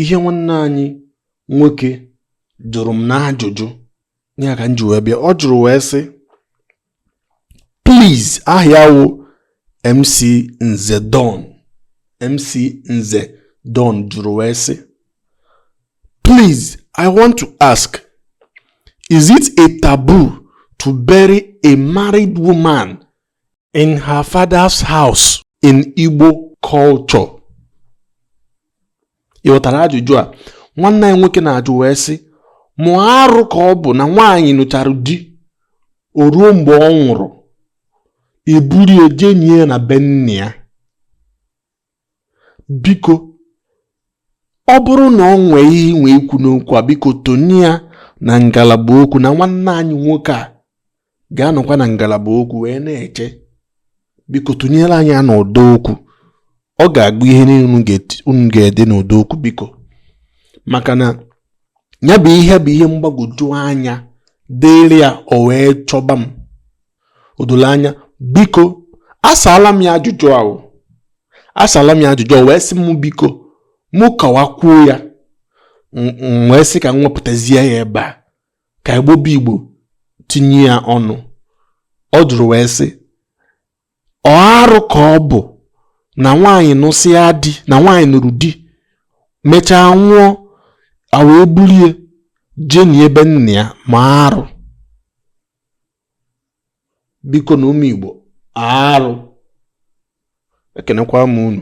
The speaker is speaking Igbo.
ihe nwanne anyị nwoke jụrụ m n'ajụjụ ya ka m ji wee bịa ọ jụrụ wee sị please aha ya wụ MC Nze Don MC Nze Don jụrụ wee sị please I want to ask is it a taboo to bury a married woman in her father's house in Igbo culture. ị ghọtara ajụjụ a nwanne anyị nwoke na-ajụ wee sị mụ ọ arụ ka ọ bụ na nwaanyị nụchara di o ruo mgbe ọ nwụrụ e buru ya je nie na be nna ya biko ọ bụrụ na o nwee ihe i nwe ikwu n'okwu a biko tụnye ya na ngalaba okwu na nwanne anyị nwoke a ga-anọkwa na ngalaba okwu wee na-eche biko tụnyere anyị ya n'ụdọ okwu ọ ga-agụ ihe niile unu ga-ede n'ụdọ okwu biko maka na ya bụ ihe bụ ihe mgbagwoju anya dịrị ya o wee chọba m o doro anya biko asaala m ya ajụjụ ahụ asaala m ya ajụjụ o wee sị m biko mụ kọwakwuo ya m wee sị ka m wepụtazie ya ebe a ka Igbo bụ Igbo tinye ya ọnụ ọ jụrụ wee sị ọ arụ ka ọ bụ na nwaanyị nụsịa di na nwaanyị nụrụ di mechaa nwụọ a wee buru ya je nie be nna ya ma arụ bikonụ ụmụ Igbo ọ arụ ekenekwaa m unu